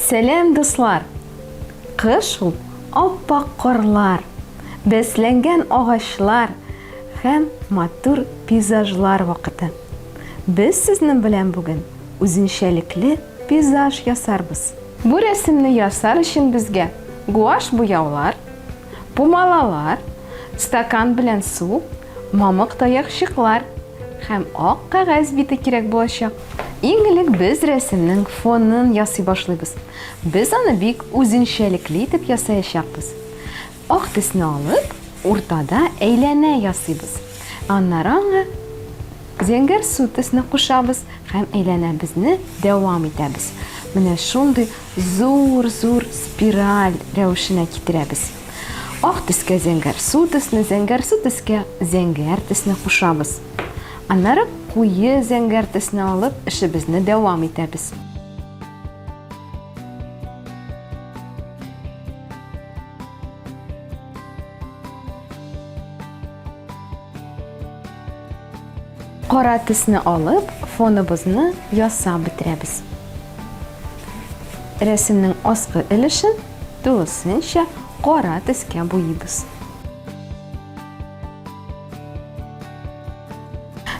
Сәләм, дуслар! Кыш ул аппак карлар, бәсләнгән агачлар һәм матур пейзажлар вакыты. Без сезнең белән бүген үзенчәлекле пейзаж ясарбыз. Бу рәсемне ясар өчен безгә гуаш буяулар, Бу малалар, стакан белән су, мамык таякчыклар һәм ак кәгазь бите кирәк булачак. Иң элек без рәсемнең фонын ясый башлыйбыз. Без аны бик үзенчәлекле итеп ясаячакбыз. Ак төсне алып, уртада әйләнә ясыйбыз. Аннары аңа зәңгәр су төсне кушабыз һәм әйләнәбезне дәвам итәбез. Менә шундый Зур-зур спираль рәвешенә китерәбез. Ак төскә зәңгәр су төсне, зәңгәр су төскә зәңгәр төсне кушабыз. Аннары куе зәңгәр төсне алып, эшебезне дәвам итәбез. Кара төсне алып, фоныбызны ясап бетерәбез. Рәсемнең аскы өлешен тулысынча кара төскә буйыбыз.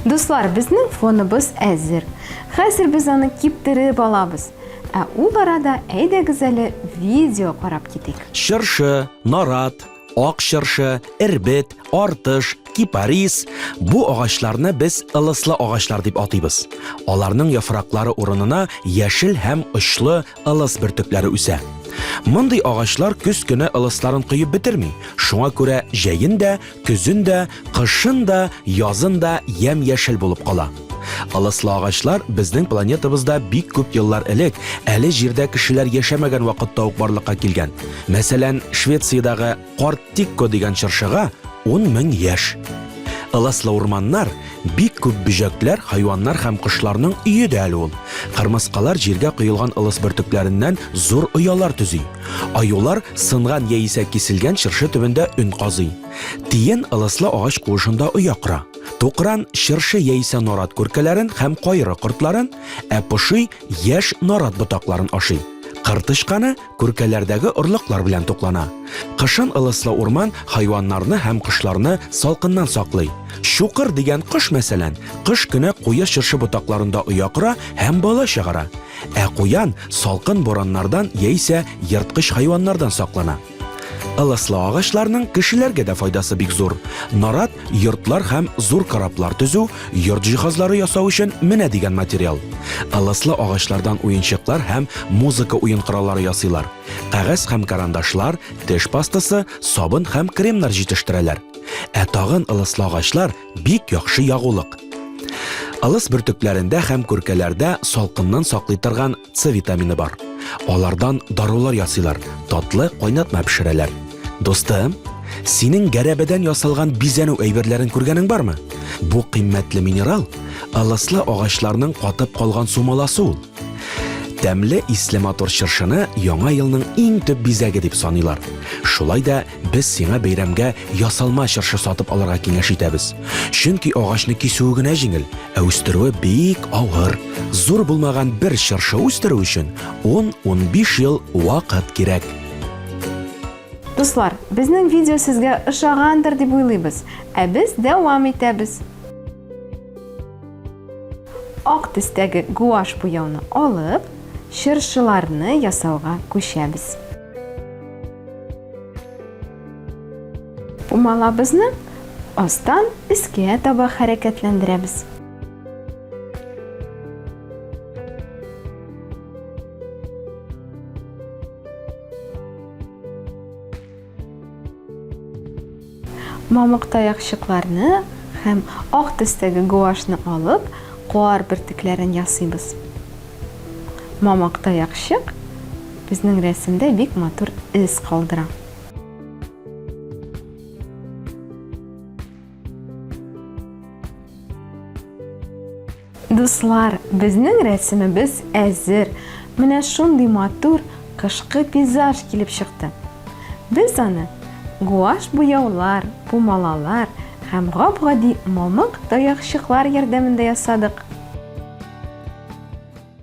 Дуслар, безнең фоныбыз әзер. Хәзер без аны киптереп алабыз. Ә ул арада әйдәгез әле видео карап китик. Чыршы, нарат, Ак чыршы, эрбет, артыш, кипарис бу агачларны без ылыслы агачлар дип атыйбыз. Аларның яфраклары урынына яшел һәм очлы ылыс бөртекләре үсә. Мондый агачлар көз көне ылысларын коеп бетерми, шуңа күрә җәен дә, көзен дә Кышын да, язын да ямь-яшел булып кала. Ылыслы агачлар безнең планетабызда бик күп еллар элек, әле җирдә кешеләр яшәмәгән вакытта ук барлыкка килгән. Мәсәлән, Швециядагы Карт Тикко дигән чыршыга 10 мең яшь. Ылыслы урманнар, бик күп бөҗәкләр, хайваннар һәм кошларның өе дә әле ул. Кырмыскалар җиргә коелган ылыс бөртекләреннән зур оялар төзи. Аюлар сынган яисә киселгән чыршы төбендә өн казый. Тиен ылыслы агач куышында оя кора. Тукран чыршы яисә нарат күркәләрен һәм кайры кортларын, ә поши яшь нарат ботакларын ашый. Кыр тычканы күркәләрдәге орлыклар белән туклана. Кышын ылыслы урман хайваннарны һәм кошларны салкыннан саклый. Чукыр дигән кош, мәсәлән, кыш көне куе чыршы ботакларында оя кора һәм бала чыгара. Ә куян салкын бураннардан яисә ерткыч хайваннардан саклана. Ылыслы агачларның кешеләргә дә файдасы бик зур. Нарат йортлар һәм зур кораблар төзү, йорт җиһазлары ясау өчен менә дигән материал. Ылыслы агачлардан уенчыклар һәм музыка уен кораллары ясыйлар. Кәгазь һәм карандашлар, теш пастасы, сабын һәм кремнар җитештерәләр. Ә тагын ылыслы агачлар бик яхшы ягулык. Ылыс бөртекләрендә һәм күркәләрдә салкыннан саклый торган С витамины бар. Алардан дарулар ясыйлар, татлы кайнатма пешерәләр. Дустым, синең гәрәбәдән ясалган бизәнү әйберләрен күргәнең бармы? Бу кыйммәтле минерал ылыслы агачларның катып калган сумаласы ул. Тәмле исле матур чыршыны яңа елның иң төп бизәге дип саныйлар. Шулай да без сиңа бәйрәмгә ясалма чыршы сатып алырга киңәш итәбез. Чөнки агачны кисүе генә җиңел, Ә үстерүе бик авыр. Зур булмаган бер чыршы үстерү өчен 10-15 ел вакыт кирәк. Дуслар, безнең видео сезгә ошагандыр дип уйлыйбыз, ә без дәвам итәбез. Ак төстәге гуаш буяуны алып, чыршыларны ясауга күчәбез. Умалабызны астан искә таба хәрәкәтләндерәбез. Мамык таякчыкларны һәм ак төстәге гуашьны алып, куар бөртекләрен ясыйбыз. Мамык таякчык безнең рәсемдә бик матур эз калдыра. Дуслар, безнең рәсемебез әзер. Менә шундый матур кышкы пейзаж килеп чыкты. Без аны гуаш буяулар, пумалалар һәм гап-гади мамык таякчыклар ярдәмендә ясадык.